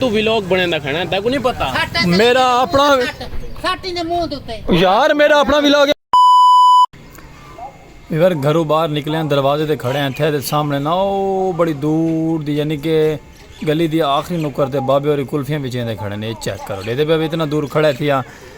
تو ویلوگ بنین دا کھڑا ہے تیکو نہیں پتا میرا اپنا ساٹی نے منہ دوتے یار میرا اپنا ویلوگ اگر گھرو باہر نکلے ہیں دروازے تے کھڑے ہیں تھے دے سامنے نہ او بڑی دور دی یعنی کہ گلی دی آخری نکر تے بابے اور کلفیاں بچیں دے کھڑے ہیں یہ چیک کرو لے دے بابے اتنا دور کھڑے تھے ہیں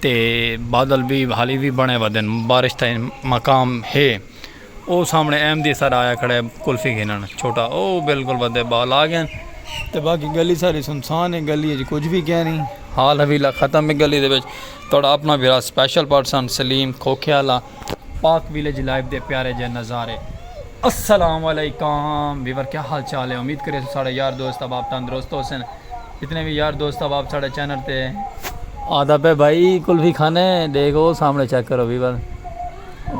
تے بادل وی حالی وی بنے ودن بارش تئیں مقام ہے او سامنے ایم دی سر آیا کھڑے کلفی گھنن چھوٹا او بالکل ودے بال آ گئے تے باقی گلی ساری سنسان ہے گلی اچ کچھ بھی کہہ نہیں حال حویلہ ختم ہے گلی دے وچ تھوڑا اپنا بھی سپیشل پرسن سلیم کھوکھے والا پاک ویلیج لائیو دے پیارے جئے نظارے۔ السلام علیکم ویور کیا حال چال ہے امید کریسوں ساڑے یار دوست احباب تندرست ہو سن جتنے بھی یار دوست احباب ساڑے چینل تے آدھا پہ بھائی کلفی کھانے دیکھ او سامنے چیک کرو ویور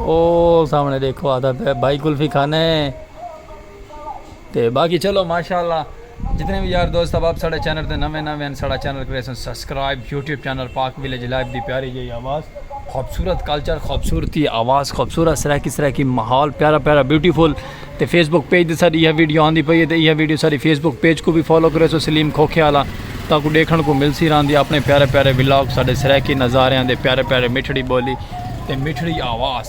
او سامنے دیکھو آدھا پہ بھائی کلفی کھانے تے باقی چلو ماشاءاللہ جتنے وی یار دوست احباب ساڈے چینل تے نویں نویں ہن ساڈا چینل کریسن subscribe YouTube channel Pak village life دی پیاری جئی آواز خوبصورت کلچر خوبصورتی آواز خوبصورت سرائیکی سرائیکی ماحول پیارا پیارا بیوٹیفل تے فیس بک پیج تے ساڈی یہ ویڈیو آندی پئی ہے تے یہ ویڈیو ساڈی فیس بک پیج کو بھی فالو کریسو سلیم کھوکھے والا تاکو ڈیکھن کو ملسی راندی اپنے پیارے پیارے ولاگ ساڈے سرائیکی نظاریاں دے پیارے پیارے مٹھڑی بولی تے مٹھڑی آواز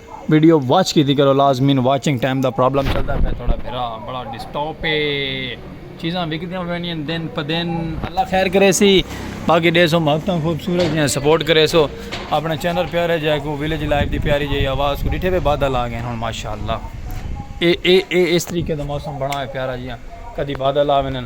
ویڈیو واچ کیتی کرو لازمین واچنگ ٹائم دا پرابلم چلدا پیا تھوڑا بھرا بڑا ڈسٹاپ ہے چیزاں وکدیاں پینیاں دن پہ دن اللہ خیر کرے سی باقی ڈے سو محبتاں خوبصورت ہیں سپورٹ کرے سو اپنا چینل پیارے جائے کو ویلیج لائف دی پیاری جائی آواز کو ڈٹھے پہ بادل آ گئے ہوں ماشاءاللہ اے اے اے اس طریقے دا موسم بڑا ہے پیارا جیاں کدی بادل آ وینن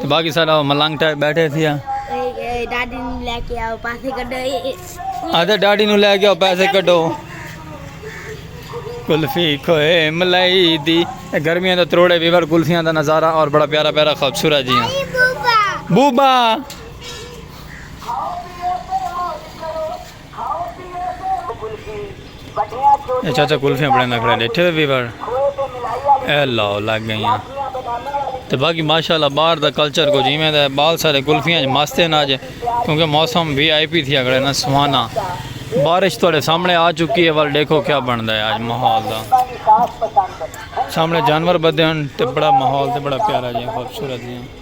تے باقی سارا او ملنگ ٹائپ بیٹھے تھیا اے ڈاڈی نو لے کے آؤ پیسے کڈو اے ڈاڈی نو لے کے آؤ پیسے کڈو کلفی کھوئے ملائی دی اے گرمیاں دا تروڑے ویور کلفیاں دا نظارہ اور بڑا پیارا پیارا خوبصورت جی ہاں بوبا اے چاچا کلفیاں بنڑیندا کھڑا ڈیٹھے ہوئے وی وڑ اے لاؤ لگ گئیاں تے باقی ماشاءاللہ باہر دا کلچر کو جیویں دا بال سارے کلفیاں وچ مست ہیں اج کیونکہ موسم وی آئی پی تھیا کھڑا نا سہانا بارش تہاڈے سامنے آ چکی ہے ول ڈیکھو کیا بنڑدا ہے اج ماحول دا سامنے جانور بدھے ہن تے بڑا ماحول تے بڑا پیارا جیاں خوبصورت جیاں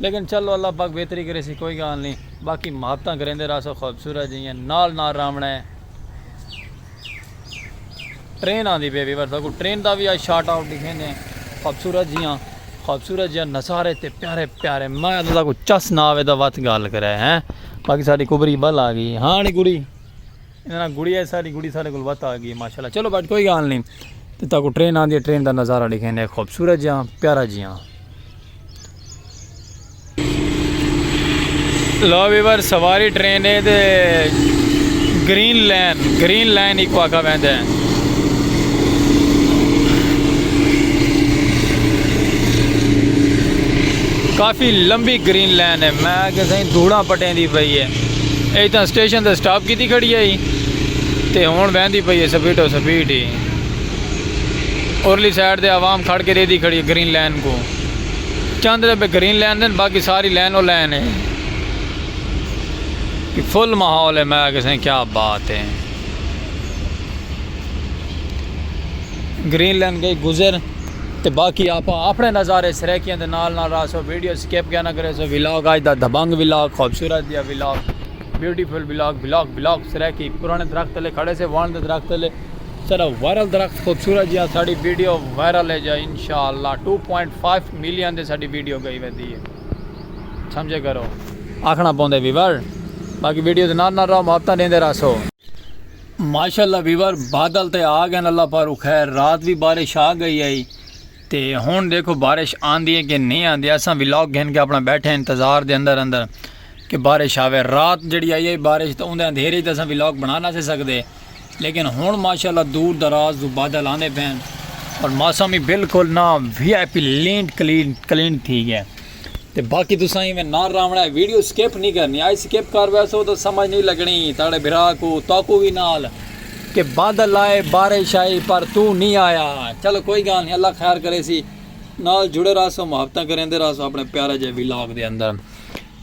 لیکن چلو اللہ پاک بہتری کریسی کوئی گالھ نی باقی محبتاں کریندے رہسو خوبصورت جیئں نال نال راونڑا ہے ٹرین آندی پئی ویورز اگوں ٹرین دا وی اج شارٹ آؤٹ ڈکھیندے ہیں خوبصورت جیاں خوبصورت جیاں نظارے تے پیارے پیارے میں تساں کو چس نہ آوے دا وت گالھ کرے ہیں باقی ساڈی کبری بل آ گئی ہاں نی کبری انہاں نال گڑی آئی ساڈی گڑی ساڈے کول وت آ گئی ماشاءاللہ چلو بٹ کوئی گال نی تے تاکو ٹرین آندی ہے ٹرین دا نظارہ ڈیکھیں دے خوبصورت جیاں پیارا جیاں۔ لو ویور سواری ٹرین ہے تے گرین لین گرین لین ایکو آکھا ویندے ہیں۔ کافی لمبی گرین لین ہے میں کہ سائیں دھوڑا پٹیں دی پئی ہے۔ اے تاں سٹیشن تے سٹاپ کیتی کھڑی ہئی تے ہنڑ ویندی پئی ہے سپیٹو سپیٹ ہی۔ ارلی سائیڈ تے عوام کھڑ کے ڈیدھی کھڑی ہے گرین لائن کوں۔ چند ربے گرین لائن دے ہن باقی ساری لائن او لائن ہے۔ فل ماحول ہے میں آکھیا سائیں کیا بات ہے۔ گرین لائن گئی گزر۔ تے باقی آپاں اپنے نظارے سرائیکیاں دے نال نال رہسوں ویڈیو سکپ کیا نہ کریسو ولاگ آج دا دھبنگ ولاگ خوبصورت دیا vlog beautiful vlog vlog vlog Saraiki پرانے درخت لے کھڑے سے وان دے درخت لے سارا وائرل درخت خوبصورت جیا ساڑی ویڈیو وائرل ہے جا انشاءاللہ 2.5 ملین دے ساڑی ویڈیو گئی ودی ہے سمجھے کرو آکھنا پوندے ویور باقی ویڈیو دے نال نال رہو محبتاں دیندے رہسو ماشاءاللہ ویور بادل تے آ گئن اللہ پاروں خیر رات وی بارش آ گئی ہئی تے ہن دیکھو بارش آندی ہے کہ نہیں آندی اساں ولاگ گھن کے اپنا بیٹھے انتظار دے اندر اندر کہ بارش آوے رات جڑی آئی ہے بارش تے اوندے اندھیرے تے اساں ولاگ بنا نہ سے سکدے لیکن ہن ماشاءاللہ دور دراز دو بادل آندے پین اور موسم ہی بالکل نہ VIP land clean clean تھی گیا تے باقی تساں ایویں نہ راونا ہے ویڈیو سکپ نہیں کرنی آئی سکپ کر ویسو تو سمجھ نہیں لگنی تاڑے بھرا کو تاکو وی نال کہ بادل آئے بارش آئی پر تو نہیں آیا چلو کوئی گال نہیں اللہ خیر کرے سی نال جڑے رہا سو محبتہ کریں دے رہا سو اپنے پیارے جے ویلاگ دے اندر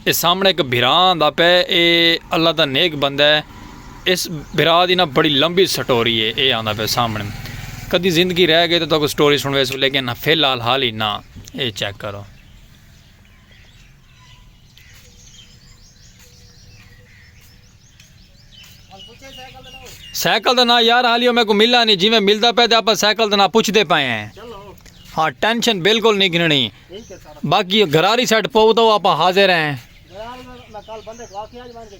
اے سامنے ایک بھران دا پہ اے اللہ دا نیک بندہ ہے اس بھرا دی نا بڑی لمبی سٹوری اے اے آندا پے سامنے کدی زندگی رہ گئے تے تہاکوں سٹوری سنڑویسوں لیکن فی الحال حال ہی نا اے چیک کرو۔ سائیکل دا نا یار حالی او میکو ملا نہیں جویں ملدا پے تے اپا سائیکل دا نا پوچھدے پے ہیں ہاں ٹینشن بالکل نہیں گھننی باقی گھراری سیٹ پو تو اپا حاضر ہیں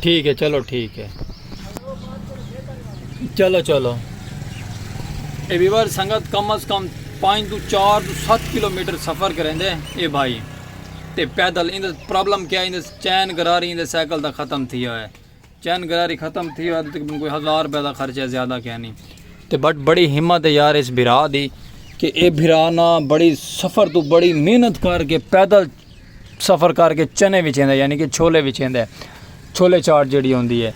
ٹھیک ہے چلو ٹھیک ہے چلو چلو اے ویور سنگت کم از کم پانچ تو چار تو سات کلو میٹر سفر کریں دے اے بھائی تے پیدل اندر پرابلم کیا اندر چین گراری اندر سائیکل دا ختم تھی ہوئے چین گراری ختم تھی ہوئے تے کوئی ہزار روپے دا خرچہ زیادہ کیا نہیں تے بٹ بڑی ہمت ہے یار اس بھرا دی کہ اے بھرا نا بڑی سفر تو بڑی محنت کر کے پیدل سفر کر کے چنے وچ ایندا یعنی کہ چھولے وچ ایندا ہے چھولے چاٹ جڑی ہوندی ہے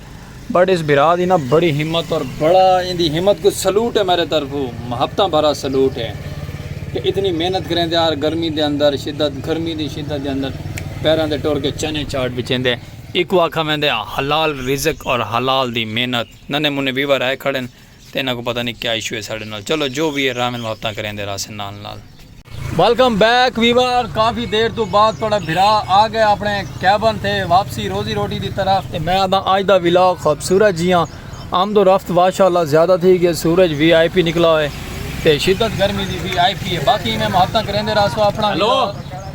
بٹ اس بھرا دی نا بڑی ہمت اور بڑا ان دی ہمت کو سلوٹ ہے میرے طرف محبتاں بھرا سلوٹ ہے کہ اتنی محنت کریں دے آر گرمی دے اندر شدت گرمی دی شدت دے اندر پیراں دے ٹور کے چنے چاٹ وچ ایندے ایک واقعہ میں دے حلال رزق اور حلال دی محنت ننے منے ویور آئے کھڑے ہیں تے انہاں کوں پتہ نی کیا ایشو ہے ساڈے نال چلو جو وی ہے رحمن محبتاں کریندے رہسن نال نال۔ ویلکم بیک ویور کافی دیر توں بعد تہاڈا بھرا آگئے اپنے کیبن تے واپسی روزی روٹی دی طرف تے میں آدھاں اج دا ولاگ خوبصورت جیاں آمد و رفت ماشاء اللہ زیادہ تھی گی سورج وی آئی پی نکلا ہوئے تے شدت گرمی دی وی آئی پی ہے باقی ایویں محبتاں کریندے رہسو اپنا ولاگ۔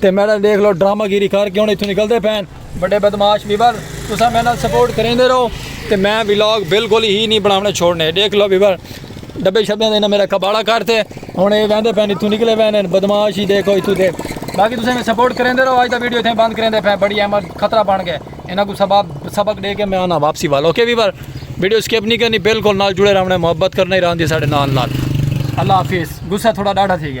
تے میڈل دیکھ لو ڈرامہ گیری کر کے ہن ایتھوں نکل دے پین بڑے بدماش بیبر تساں میرے نال سپورٹ کریندے رہو تے میں ولاگ بالکل ہی نہیں بناونے چھوڑنے دیکھ لو بیبر ڈبے شبے دے میرا کباڑا کر تے ہن اے ویندے پین ایتھوں نکلے وین بدماش ہی دیکھو ایتھوں دے باقی تساں میں سپورٹ کریندے رہو اج دا ویڈیو ایتھے بند کریندے پین بڑی احمد خطرہ بن گئے انہاں کو سبب سبق دے کے میں آنا واپسی وال اوکے بیبر ویڈیو سکپ نہیں کرنی بالکل نال جڑے رہنے محبت کرنے راندی ساڈے نال نال اللہ حافظ غصہ تھوڑا ڈاڑھا تھی گیا